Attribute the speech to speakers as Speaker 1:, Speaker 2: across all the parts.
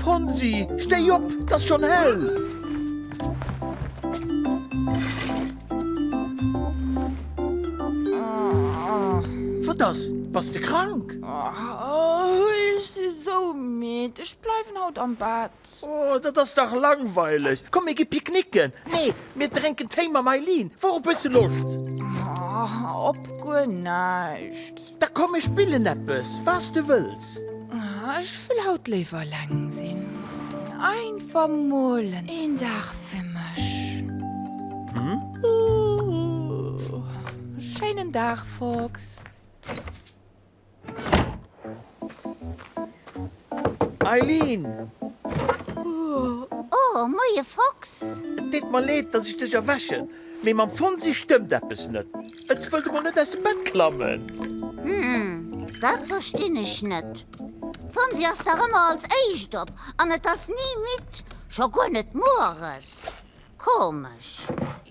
Speaker 1: Fonsi, stéi op, 't ass schonn hell! Wat ass? Bass de krank?
Speaker 2: Ech si sou midd, ech bleiwen haut am Bett. Oh, dat ass dach
Speaker 1: langweileg! Komm, mir gi picknicken! Nee, mir drénken Téi mam Eileen. Wourop hues du Loscht?
Speaker 2: Op guer näischt. Da komm mir spillen
Speaker 1: eppes, was du wëlls. Ech wëll
Speaker 2: haut léiwer eleng sinn. Einfach mol een Dag fir mech. Schéinen Dag, Fox.
Speaker 1: Eileen!
Speaker 3: Oh, moie Fox! Et deet mer leed,
Speaker 1: dass ech dech erwächen, mee mam Fonsi stëmmt eppes net. Et wëllt emol net aus dem Bett klammen. Hm,
Speaker 3: dat verstinn ech net. D'Fonsi ass dach ëmmer als éischt op an et ass ni midd, scho guer net mueres. Komesch.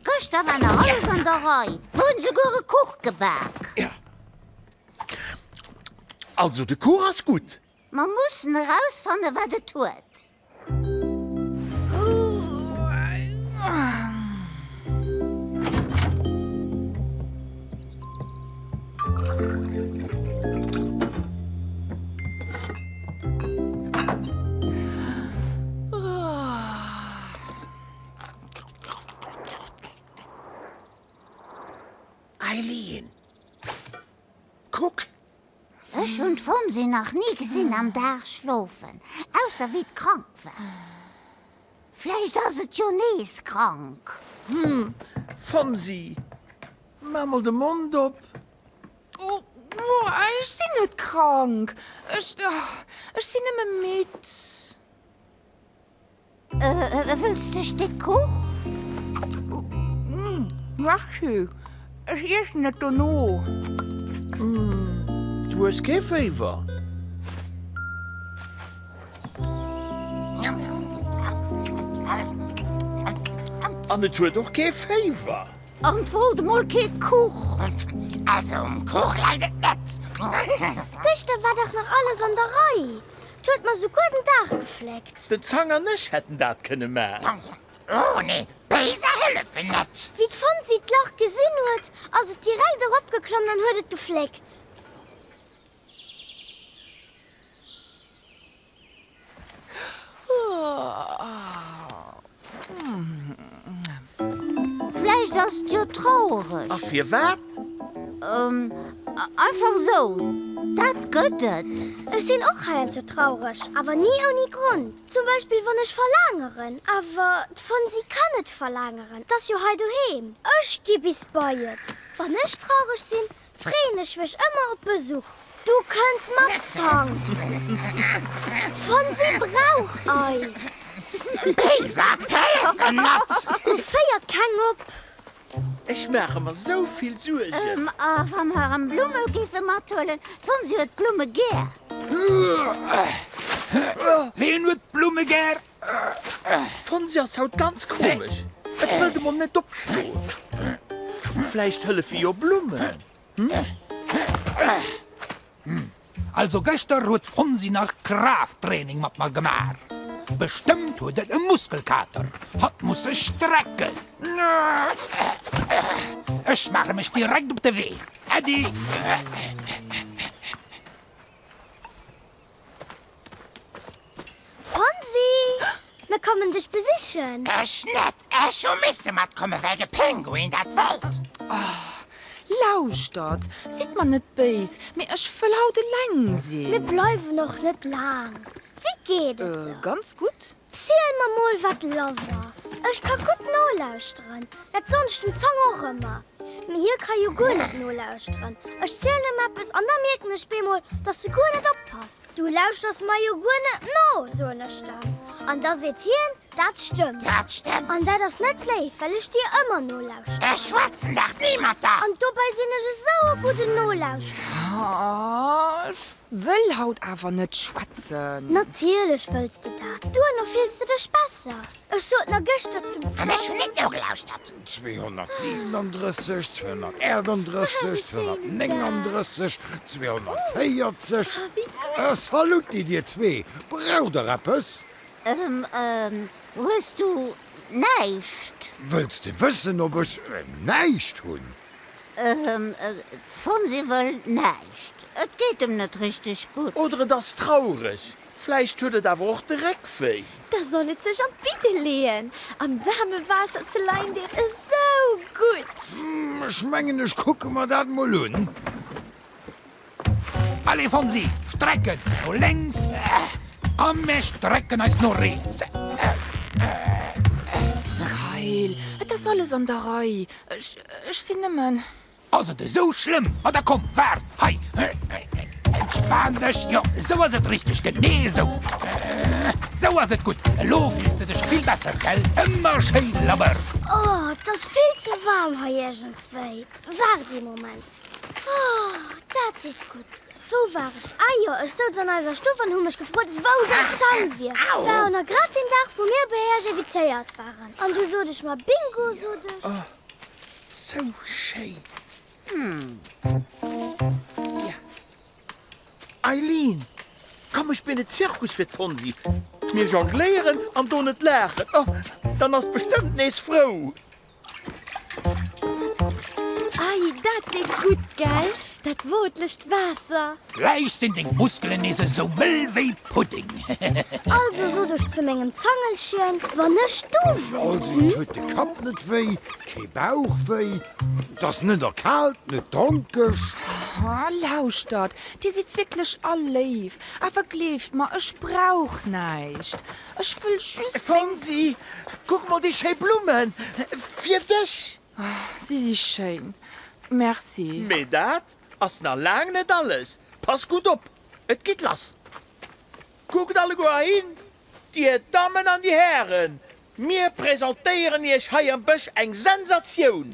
Speaker 3: Gëschter war nach alles an der Rei, mer hunn esouguer e Kuch gebak.
Speaker 1: Also de Cours ass gutt. Mer mussen
Speaker 3: erausfanne wat et huet.
Speaker 1: Eileen, Kuck!
Speaker 3: Ech hunn d'Fonsi nach ni gesinn am Dag schlofen, ausser wéi d'krank war. Vläicht ass et jo nees krank. Hm,
Speaker 1: Fonsi, maaach mol de Mond op!
Speaker 2: Ech sinn net krank, ech sinn nëmme midd. Wëlls de e Stéck Kuch? Merci, ech iessen et dono.
Speaker 1: Du hues kee Féiwer? An et huet och kee Féiwer? An et wollt
Speaker 3: emol kee Kuch? Also um
Speaker 4: Kuch läit et net. Gëschter
Speaker 5: war dach nach alles an der Rei. 't huet mer souguer den Daach gefléckt. Den Zang an ech hätten
Speaker 1: dat kënne man. Oh nee,
Speaker 4: Béiser hëllefen net! Wéi d'Fonsi d'Lach
Speaker 5: gesinn huet, ass et direkt eropgeklommen an huet et gefléckt.
Speaker 3: Vläicht ass et jo traureg. A firwat? Einfach esou, dat gëtt et. Ech sinn och heiansdo
Speaker 5: traureg, awer ni ouni Gronn. Zum Beispill wann ech verlaangeren, awer d'Fonsi kann net verlaangeren, 't ass jo hei doheem. Ech gi bis bei et. Wann ech traureg sinn, Freen ech mech ëmmer op Besuch. Du kënns mat Zang. D'Fonsi brauch Eis. D'Lisa
Speaker 4: d'Hälfte mat. Et féiert keng
Speaker 5: op. Ech
Speaker 1: maache mer sou vill Suergen. A wa mer
Speaker 3: erëm Blumme géife mathuelen? D'Fonsi huet d'Blumme gär.
Speaker 6: Ween huet d'Blumme gär?
Speaker 1: D'Fonsi ass haut ganz komesch, et wëllt emol net opstoen. Vläicht hëllefe jo Blummen?
Speaker 6: Also gëschter huet d'Fonsi nach Kraafttraining mat mer gemaach. Bestëmmt huet et e Muskelkater, hat musse strecken. Ech maache mech direkt op de Wee. Äddi!
Speaker 5: Fonsi, mir kommen dech besichen. Ech net,
Speaker 4: ech hu misse matkomme well de Pinguin dat wollt. Oh, lauschtert,
Speaker 2: sidd mer net béis, mee ech wëll haut eleng sinn. Mir
Speaker 5: bleiwen
Speaker 2: och net
Speaker 5: laang. Wéi geet et der? Ganz gutt.
Speaker 2: Ziel mer mol
Speaker 5: wat lass ass. Ech ka gudd nolauschteren, dat sonnst dem Zang och emmer, mee hie ka jo guer net nolauschteren. Ech zielen em eppes an da mierken ech beemol dass se guer net oppasst. Du lauschters mer jo guer net no, soen ech dann, an da seet hien, dat stëmmt. Dat stëmmt. An dat
Speaker 4: ass net léif,
Speaker 5: well ech dir emmer nolauschteren. Ech schwätzen dach ni
Speaker 4: mat der. An dobäi sin ech
Speaker 5: esou e gudden Nolauschtrer.
Speaker 2: Ech Wëll haut awer net schwätzen. Natierlech wëlls
Speaker 5: de dat. Duerno fills de dech besser. Ech sot nach gëschter zum Sam. An ech hunn net nogelauschert.
Speaker 4: 237,
Speaker 7: 238, 239, 240. E Saluti dir zwee. Braucht der eppes? Ehm, ehm, hues
Speaker 3: du näischt? Wëlls de
Speaker 7: wëssen, ob ech näischt hunn?
Speaker 3: D'Fonsi wëll näischt, et geet em net richteg gutt. Oder et ass traureg.
Speaker 1: Vläicht huet et awer och de Réck wéi. Da soll et sech an
Speaker 8: d'Bidde leeën. Am waarme Waasser ze leien deet esou gutt. Ech mengen, ech
Speaker 7: kucke mer dat mol un.
Speaker 6: Allez Fonsi, strecken no lénks a mir strecken eis no riets.
Speaker 2: Kayl, et ass alles an der Rei, ech sinn nëmmen. Ass et esou
Speaker 6: schlëmm? Ma da komm, waart hei, entspan dech. Jo, esou ass et richteg, genee esou. Esou ass et gutt, elo fills de dech vill besser, gell? Ëmmer schéi labber. Oh, et ass
Speaker 5: vill ze waarm hei iergendswéi. Waart ee Moment. Oh, dat deet gutt. Wou war ech? Ah jo, ech souz an eiser Stuff an hu mech gefrot, wou dat Schall wier. War och nach grad deen Dag, wou mir bei iech invitéiert waren. An du sot ech mer, Bingo, sot ech. Oh, sou
Speaker 1: schéin. Ja. Eileen, komm, ech spillen Zirkus fir d'Fonsi. Mir jongléieren an doen et laachen. Oh, dann ass d'bestëmmt nees frou.
Speaker 8: Ei, dat deet gutt, gell? Dat wootlecht Waasser. Gläich sinn deng
Speaker 6: Muskelen nees esou mëll wéi Pudding. Also
Speaker 5: sot ech zu mengem Zangelchen, wann ech do wär. Also et huet de
Speaker 7: Kapp net wéi, kee Bauch wéi, et ass net erkaalt, net dronkeg. Oh,
Speaker 2: lauschtert, dir sidd wierklech all léif, awer gleeft mer, ech brauch näischt. Ech wëll just. Fonsi,
Speaker 1: kuck mol déi schéi Blummen! Fir dech! Si si
Speaker 2: schéin. Merci. Mee dat
Speaker 1: ass nach laang net alles. Pass gutt op, et geet lass! Kuckt alleguer hin, Dir Dammen an Dir Hären, mir presentéieren Iech hei am Bësch eng Sensatioun!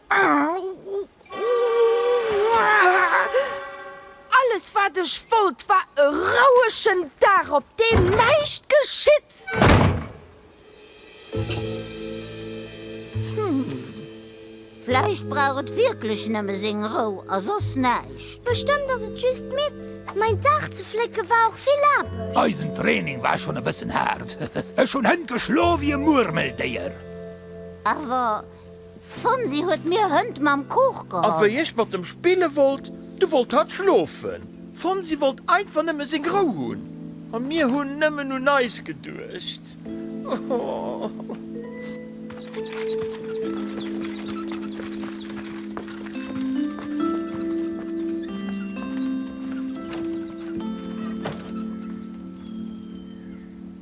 Speaker 2: Alles wat ech wollt war e rouegen Dag op deem näischt geschitt. Hm,
Speaker 3: vläicht brauch et wierklech nëmme seng Rou a soss näischt. Bestëmmt ass et just
Speaker 5: midd. Mäin Dag ze flécke war och vill Aarbecht. Eisen Training war schonn
Speaker 6: e bëssen haart. Ech hunn hënt geschloe wéi e Murmeldéier. Awer
Speaker 3: D'Fonsi huet mir Hënt mam Kuch geholl. A wéi ech mat em
Speaker 1: spille wollt, du wollt hatt schlofen. D'Fonsi wollt einfach nëmme seng Rou hunn. A mir hunn nëmmen un eis geduecht.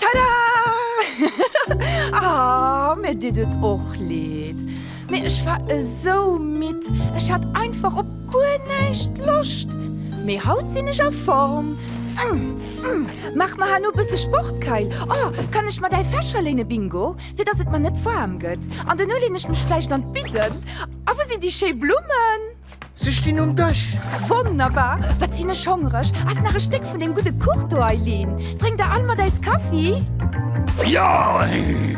Speaker 2: Tada! Ah, mir ditt et och leed, mee ech war esou midd, ech hat einfach op guer näischt Loscht. Mee haut sinn ech a Form. Maach mer herno bësse Sport, Kayl. Oh, kann ech mer däi Fächer léine, Bingo, fir dass et mer net waarm gëtt? An dono leen ech mech vläicht an d'Bidden. A wou sinn déi schéi Blummen? Se stinn um
Speaker 1: Dësch. Wonnerbar!
Speaker 2: Wat sinn ech hongreg! Ass nach e Stéck vun deem gudde Kuch do, Eileen? Drénk der all mat eis Kaffi? Jaaii!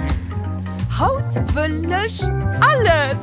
Speaker 2: Haut wëll ech alles!